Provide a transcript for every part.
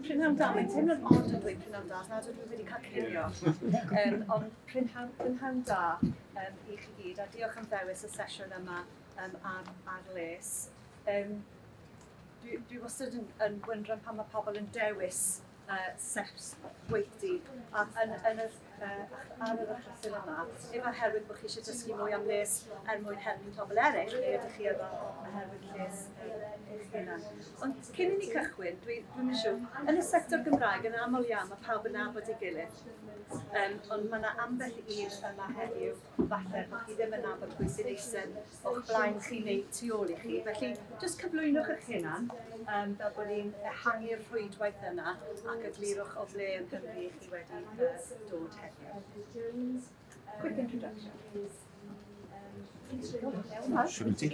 Prynhawn da, mae'n teimlo'n od yn dweud prynhawn da, nad ydw i wedi cael cinio. Um, ond prynhawn, prynhawn da um, i chi gyd, a diolch am ddewis y sesiwn yma um, ar, ar les. Um, dwi, dwi wastad yn, yn wyndran pan mae pobl yn dewis uh, seps gweithdy, a yn, yn, yn, ar yr achlysurau yma, dim oherwydd bod chi eisiau dysgu mwy am les er mwyn helpu pobl eraill, neu ydych chi yma oherwydd lles eich hunan. Ond cyn i ni cychwyn, dwi, dwi'n mynd siŵr, yn y sector Gymraeg yn aml iawn mae pawb yn nabod ei gilydd, um, ond mae yna ambell un yma heddiw, falle bod chi ddim yn nabod pwy sy'n eisen o'ch blaen chi neu tu ôl i chi. Felly, jyst cyflwynwch eich hunan, um, fel bod ni'n ehangu'r rhwydwaith yna ac eglurwch o ble yn Cymru i chi wedi uh, dod heddiw. Quick introduction. Shouldn't it?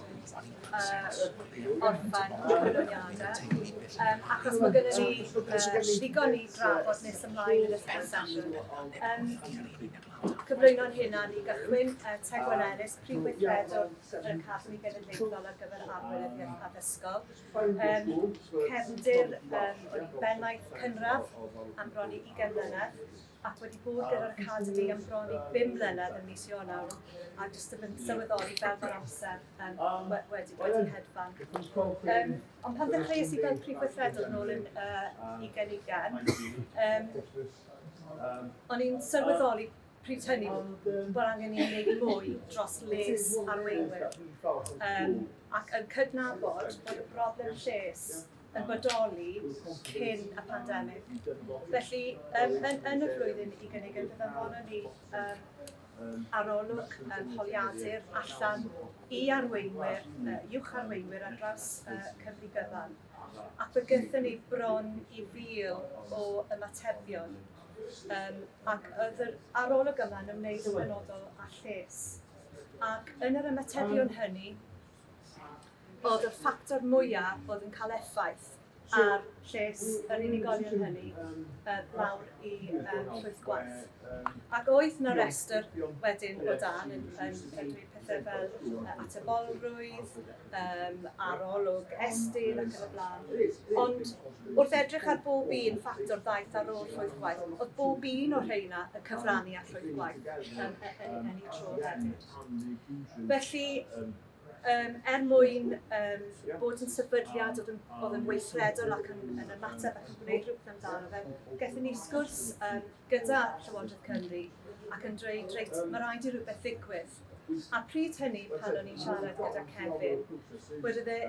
orffen cyflwyniadau, achos mae gennym ni ddigon i drafod nes ymlaen yn y sesiwn. Cyflwyno'n hunan i gychwyn, Tegwyn Ellis, Prif Weithredwr yr Academi Genedlaethol ar gyfer Arweinyddiaeth Addysgol, cefndir wedi bennaeth cynradd am bron i 20 mlynedd, ac wedi bod gyda'r Academi am bron i bum mlynedd ym mis Ionawr, a jyst yn mynd sylweddoli fel mae'r amser yn we- wedi bod yn hedfan. Um, ond pan ddechreuais i fel prif weithredwr yn ôl yn uh, ugen ugen, um, o'n i'n sylweddoli pryd hynny bod angen i wneud mwy dros les arweinwyr um, ac yn cydnabod bod y broblem lles yn bodoli cyn y pandemig. Felly, yn, yn, yn y flwyddyn i gynnig yn ddyddorol ni um, arolwg um, holiadur allan i arweinwyr, uh, uwch arweinwyr ar draws uh, Cymru gyfan. Ac fe gyda ni bron i fil o ymatebion. Um, ac oedd yr arolwg yma yn ymwneud yn benodol â lles. Ac yn yr ymatebion hynny, fod y ffactor mwyaf oedd yn cael effaith ar lles yr unigolion hynny um, lawr i um, llwyth gwaith. Ac oedd na restr wedyn o dan yn, yn, yn dweud pethau fel uh, atebolrwydd, um, arolwg estyn ac yn y blaen. Ond wrth edrych ar bob un ffactor ddaeth ar ôl llwyth gwaith, oedd bob un o'r rheina y cyfrannu at llwyth gwaith yn, yn, yn, yn ei tro hefyd. Felly, um, er mwyn um, bod yn sefydliad oedd yn, oedd yn weithredol ac yn, yn ymateb ac yn gwneud rhywbeth amdano fe, gaethon ni sgwrs um, gyda Llywodraeth Cymru ac yn dweud, reit, mae rhaid i rhywbeth ddigwydd. A pryd hynny, pan o'n i'n siarad gyda Kevin, wedi dde,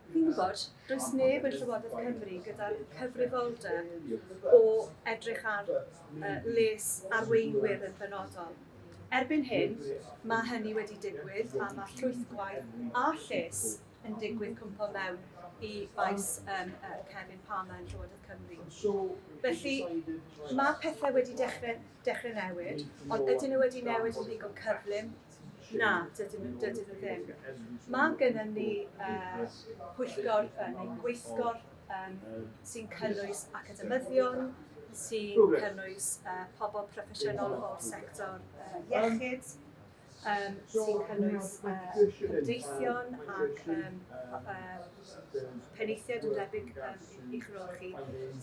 chi'n gwybod, does neb yn Llywodraeth Cymru gyda'r cyfrifoldeb o edrych ar les arweinwyr yn benodol. Erbyn hyn, mae hynny wedi digwydd a mae llwythgwaith a lles yn digwydd cwmpo mewn i faes um, uh, Kevin Palmer yn Llywodraeth Cymru. Felly, mae pethau wedi dechrau, dechrau newid, ond ydyn nhw wedi newid yn ddigon cyflym Na, dydyn nhw dydyn nhw ddim. Mae gennym ni uh, pwyllgor uh, neu gweithgor um, sy'n cynnwys academyddion, sy'n cynnwys uh, pobl proffesiynol o'r sector uh, iechyd, um, sy'n cynnwys uh, cymdeithion ac um, uh, penaethiaid yn debyg i Gymroeg chi,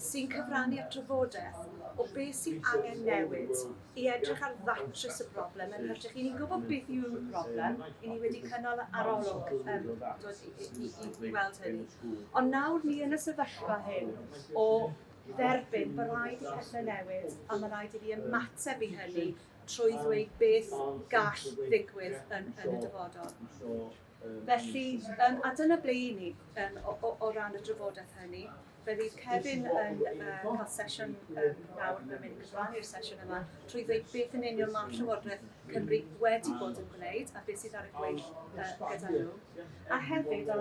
sy'n cyfrannu at drafodaeth o beth sydd angen newid i edrych ar ddatrys y broblem yn hytrach. I ni'n gwybod beth yw'r broblem, i ni wedi cynnal arolwg um, dod i, i, i, i weld hynny. Ond nawr ni yn y sefyllfa hyn o dderbyn bod rhaid i pethau newid a mae rhaid i ni ymateb i hynny trwy ddweud beth gall ddigwydd yn, yn y dyfodol. Felly, yym, a dyna ble i ni yym o o o ran y drafodaeth hynny. Fe fydd Kevin yn yy cael sesiwn yym nawr, mae'n mynd i gyflawni i'r sesiwn yma trwy ddweud beth yn union mae Llywodraeth Cymru wedi bod yn gwneud a beth sydd ar y gweill yy gyda nhw. A hefyd, a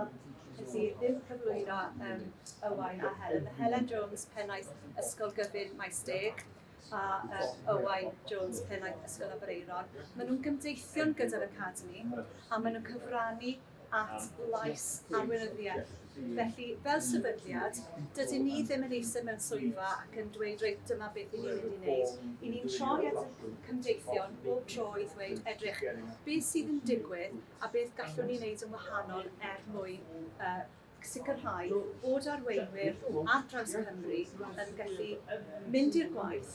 wnes i ddim cyflwyno yym Owain a Helen, mae Helen Jones, Pennaeth Ysgol Gyfun Maesteg, a uh, Owain Jones, Pennaeth Ysgol Aberaeron. Maen nhw'n gymdeithion gyda'r Academi a maen nhw'n cyfrannu at lais arweinyddiaeth. Felly, fel sefydliad, dydyn ni ddim yn eisiau mewn swyddfa ac yn dweud, reit, dyma beth i ni'n mynd i wneud. I ni'n troi at y cymdeithion bob tro i ddweud, edrych, beth sydd yn digwydd a beth gallwn ni wneud yn wahanol er mwyn uh, ac sicrhau bod arweinwyr ar draws Cymru yn gallu mynd i'r gwaith,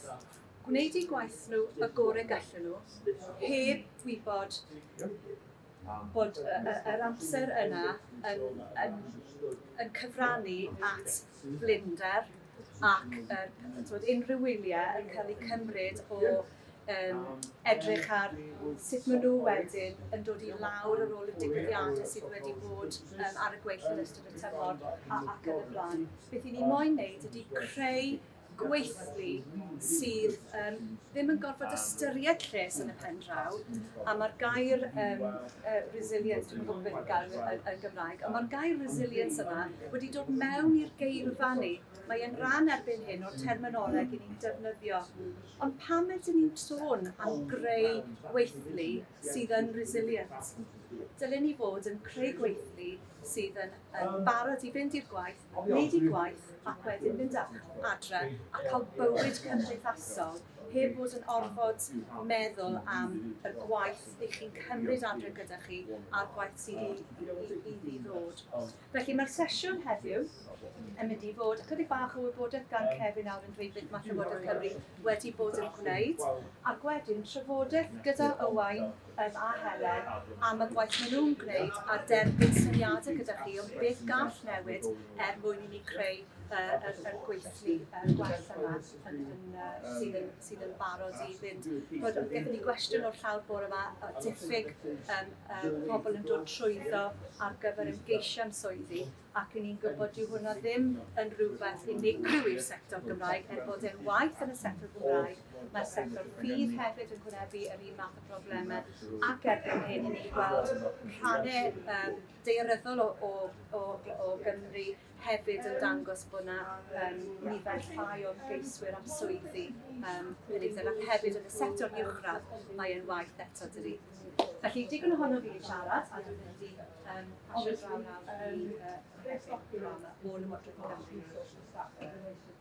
gwneud eu gwaith nhw y gorau gallen nhw, heb wybod bod yr amser yna yn, yn, yn cyfrannu at blinder ac er, unrhyw wyliau yn cael eu cymryd o um, edrych ar sut maen nhw wedyn yn dod i lawr ar ôl y digwyddiadau sydd wedi bod um, ar y gweill yn ystod y tymor a, ac yn y blaen. Beth i ni moyn wneud ydy creu gweithlu sydd um, ddim yn gorfod ystyried lles yn y pen draw, a mae'r gair um, uh, resilience, dwi'n gwybod beth gair yn, yn Gymraeg, a mae'r gair resilience yma wedi dod mewn i'r geirfa ni Mae e'n ran erbyn hyn o'r terminoleg i ni'n defnyddio. Ond pam ydyn ni'n sôn am greu gweithlu sydd yn resilient? Dylen ni fod yn creu gweithlu sydd yn, yn barod i fynd i'r gwaith, wneud i gwaith ac wedyn mynd adre a cael bywyd cymdeithasol heb fod yn orfod meddwl am y gwaith i chi'n cymryd adre gyda chi a'r gwaith sydd i, i, i, i ddod. Felly mae'r sesiwn heddiw yn mynd i fod ychydig bach o wybodaeth gan Cefin nawr yn dweud beth mae Llywodraeth Cymru wedi bod yn gwneud ac wedyn trafodaeth gyda Owain um, a Helen am y gwaith maen nhw'n gwneud a derbyn syniadau gyda chi o beth gall newid er mwyn i ni creu uh, y, y gweithlu uh, gwell yma yn, yn, uh, sydd yn sydd yn barod i fynd. Bod, gyda ni gwestiwn o'r llawr bore yma, diffyg um, um, pobl yn dod trwyddo ar gyfer ymgeisiau am swyddi, ac yn ni'n gwybod dyw hwnna ddim yn rhywbeth unigryw i'r sector Gymraeg, er bod e'n waith yn y sector Gymraeg, mae'r sector ffydd hefyd yn gwnebu yr un math o broblemau, ac erbyn hyn i ni gweld rhannau um, deirydol o, o, o, o Gymru hefyd yn dangos bod 'na yym nifer llai o ymgeiswyr am swyddi yym Peredur ac hefyd yn y sector uwchradd mae e'n waeth eto dydi? Felly digon ohono fi wedi siarad a dwi'n mynd i um, pasio draw nawr i uh, Paul yn y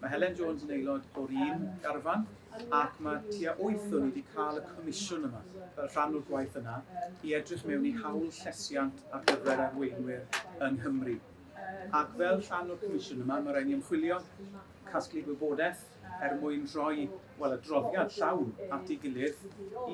Mae Helen Jones yn aelod o'r un garfan ac mae tua wyth o ni wedi cael y comisiwn yma, fel rhan o'r gwaith yna, i edrych mewn i hawl llesiant ar gyfer arweinwyr yng Nghymru. Ac fel rhan o'r comisiwn yma, mae rhaid ni ymchwilio, casglu gwybodaeth er mwyn rhoi, wel, adroddiad llawn at ei gilydd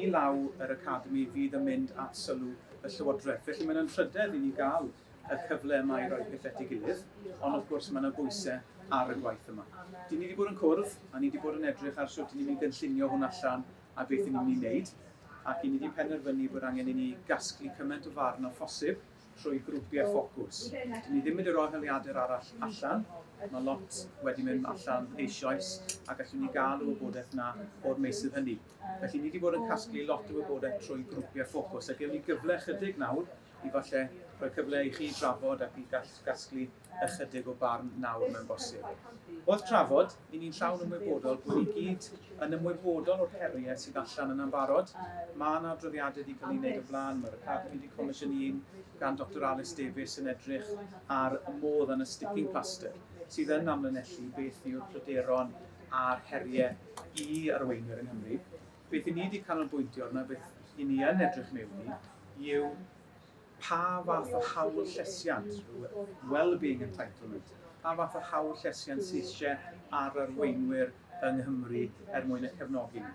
i law yr Academi fydd yn mynd at sylw y Llywodraeth. Felly mae'n anrhydedd i ni gael y cyfle yma i roi pethau at ei gilydd, ond wrth gwrs mae yna bwysau ar y gwaith yma. Dyn ni wedi bod yn cwrdd, a ni wedi bod yn edrych ar sut ni'n mynd gynllunio hwn allan a beth ni'n mynd i wneud, ac i ni wedi penderfynu bod angen i ni gasglu cymaint o farn o phosib trwy grwpiau ffocws. Dyn ni ddim wedi rhoi heliadur arall allan, mae lot wedi mynd allan eisoes a gallwn ni gael y wybodaeth yna o'r meysydd hynny. Felly ni wedi bod yn casglu lot o wybodaeth trwy grwpiau ffocws a gewn ni gyfle chydig nawr i falle rhoi cyfle i chi drafod ac i gasglu ychydig o barn nawr mewn bosib. Wrth trafod, i ni'n llawn ymwybodol bod ni gyd yn ymwybodol o'r heriau sydd allan yna'n barod. Mae yna adroddiadau wedi cael ei wneud o blaen, mae'r Academi wedi comisiynu un gan Doctor Alys Davies yn edrych ar y modd yn y sticking plaster sydd yn amlinellu beth yw'r pryderon a'r heriau i arweinwyr yng Nghymru. Beth i ni wedi canolbwyntio arno, beth i ni yn edrych mewn i, yw pa fath o hawl llesiant, well-being entitlement, pa fath o hawl llesiant sydd eisiau ar arweinwyr yng Nghymru er mwyn y cefnogi ni.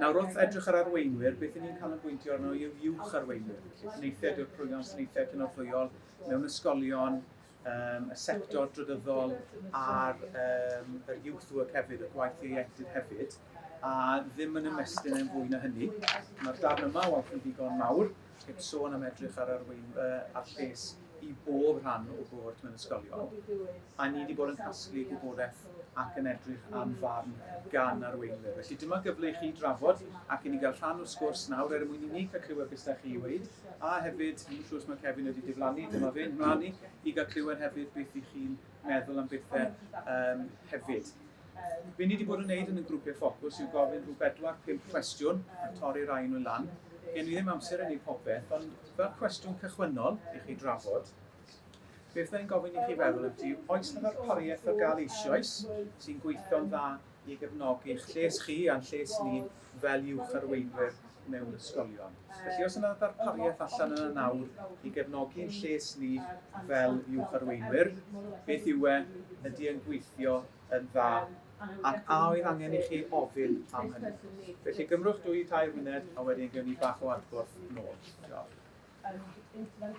Nawr wrth edrych ar arweinwyr, beth ni'n cael yn bwyntio arno yw uwch arweinwyr, felly penaethiaid yw'r prwynion, penaethiaid cynorthwyol mewn ysgolion, um, y sector drydyddol a'r um, yr youth work hefyd, y gwaith ieuenctid hefyd, a ddim yn ymestyn e'n fwy na hynny. Mae'r darn yma o yn ddigon mawr, heb sôn am edrych ar arwein uh, ar lles i bob rhan o bwrdd mewn ysgolion. A ni wedi bod yn casglu gwybodaeth ac yn edrych am farn gan arweinwyr. Felly dyma gyfle i chi drafod ac i ni gael rhan o'r sgwrs nawr er mwyn i ni cael clywed beth ydych chi i weid A hefyd, fi'n siŵr os mae Kevin wedi diflannu, dyma fe'n mlaen i, i gael clywed hefyd beth i chi'n meddwl am bethau um, hefyd. Be ni wedi bod yn gwneud yn y grwpiau ffocws yw gofyn rhyw bedwar, pump cwestiwn a torri rai nhw lan. Gen i ddim amser yn ei popeth, ond fel cwestiwn cychwynnol i chi drafod, beth ni'n gofyn i chi feddwl ydy, oes na ddarpariaeth o gael eisoes sy'n gweithio'n dda i gefnogi'ch lles chi a'n lles ni fel uwch arweinwyr mewn ysgolion. Felly, os yna ddarpariaeth allan yna nawr i gefnogi'n lles ni fel uwch arweinwyr, beth yw e, ydy e'n gweithio yn dda, ac a oedd angen i chi ofyn am hynny? Felly, gymrwch dwy, tair munud, a wedyn gewn ni bach o adborth nôl. Diolch.